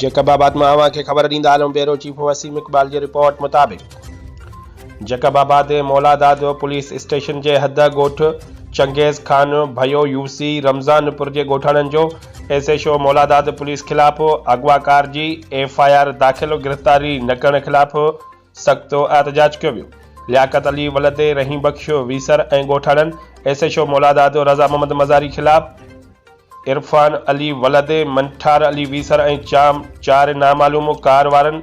Jacob آباد مان اوهان کي خبر ڏيندا هلون بيورو چيف وسيم اقبال جي رپورٽ مطابق Jacobabad Muladad police station جي حد ڳوٺ چنگيز خان ڀيو يوسي رمضان پور جي ڳوٺاڻن جو S H O Muladad police خلاف اغواڪار جي ايف آء آر داخل گرفتاري نه ڪرڻ خلاف سخت احتجاج ڪيو ويو. لياقت علي ولد رحيم بخش ويسر ۽ ڳوٺاڻن S H O مولادادو Raza Muhammad Mazari خلاف عرفان علي ولد منٺار علي ويسر ۽ چام چار نامعلوم ڪار وارن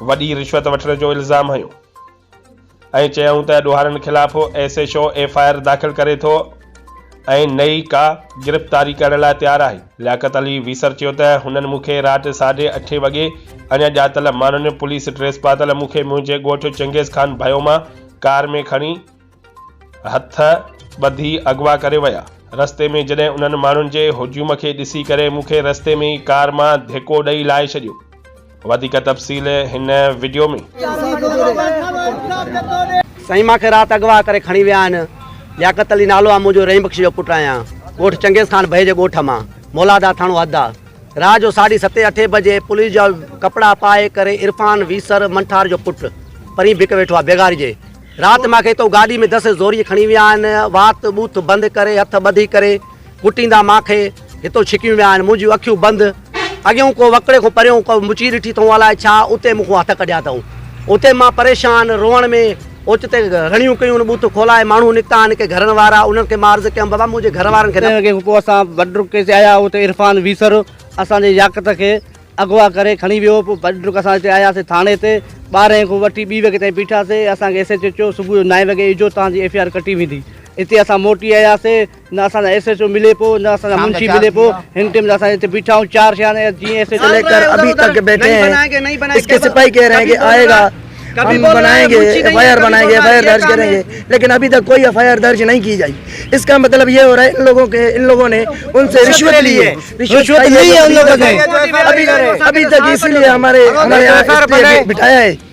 وڏي رشوت وٺڻ جو الزام هنيو. ۽ چيائون ته ڏوهارين خلاف S H O F I R داخل ڪري ٿو ۽ نه ئي ڪا گرفتاري ڪرڻ لاء تيار آهي. لياقت علي ويسر چيو ته هنن مون کي رات ساڍي اٺين وڳي اڻ ڄاتل ماڻهن پوليس ڊريس پاتل مون کي منهنجي ڳوٺ چنگيز خان ڀيو مان ڪار ۾ کڻي هٿ ٻڌي اغوا ڪري ويا. رستي ۾ جڏهن انهن ماڻهن جي هجوم کي ڏسي ڪري مون کي رستي ۾ ئي ڪار مان ڌڪو ڏئي لاهي ڇڏيو. وڌيڪ تفصيل هن وڊيو ۾. سائين مان کي رات اغوا ڪري کڻي ويا آهن لياقت علي نالو آ مون جو رحيم بخش جو پٽ آهيان ڳوٺ چنگيز خان ڀئي جي ڳوٺ مان مولادار ٿاڻو حد آ رات جو ساڍي ستين اٺين بجي پوليس جا ڪپڙا پائي ڪري عرفان ويسر منٺار جو پٽ پرين بڪ ويٺو آ بيگاري جي رات مان کي تو گاڏي ۾ دس زوري کڻي ويا آهن وات ٻوٿ بند ڪري هٿ ٻڌي ڪري ڪٽيندا مان کي، هتو ڇڪيون ويا آهن، منهنجيون اکيون بند، اڳيون ڪو وڪڙي کان پريون ڪو مچي ڏٺي اٿئون الاء ڇا اتي مون کان هٿ ڪڍيا اٿئون. اتي مان پريشان، روئڻ ۾، اوچتي رڙيون ڪيون، بوٿ کولائي ماڻهو نڪتا آهن ڪي گهرن وارا، انهن کي مان عرض ڪيم بابا منهنجي گهر وارن کي نه. ڪي پوء اسان بڊرڪ ڪي تي آيا اتي عرفان ويسر اسان جي ياقت کي اغوا ڪري کڻي ويو پوء بڊرڪ اسان هتي آياسي ٿاڻي تي ٻارهين کان وٺي ٻي وڳي تائين بيٺاسي اسان کي ايس ايچ او چيو صبح جو نائين وڳي ايجو تان جي ايف آر ڪٽي ويندي هتي اسان موٽي آياسي نه اسان سان ايس ايڇ او ملي پيو نه اسان سان منشي ملي پيو هن ٽيم اسان هتي بيٺا آهيون چار ٿيا آهن جيئن ايس ايڇ او ڪليڪٽر ابي تڪ بيٺي هين اس ڪي سپاهي ڪهه رهي هين آئي گا ڪبي بولائين گي ايف آئي آر بنائين گي ايف آئي آر درج ڪرين گي ليڪن ابي تڪ ڪوئي ايف آئي آر درج نهي ڪي جائي اس ڪا مطلب يه هو رهي ان لوگو ڪي ان لوگو ني ان سي رشوت لي هين رشوت لي هين ان لوگو ني ابي تڪ اس لي هماري هماري آر پي آئي بيٺايا هين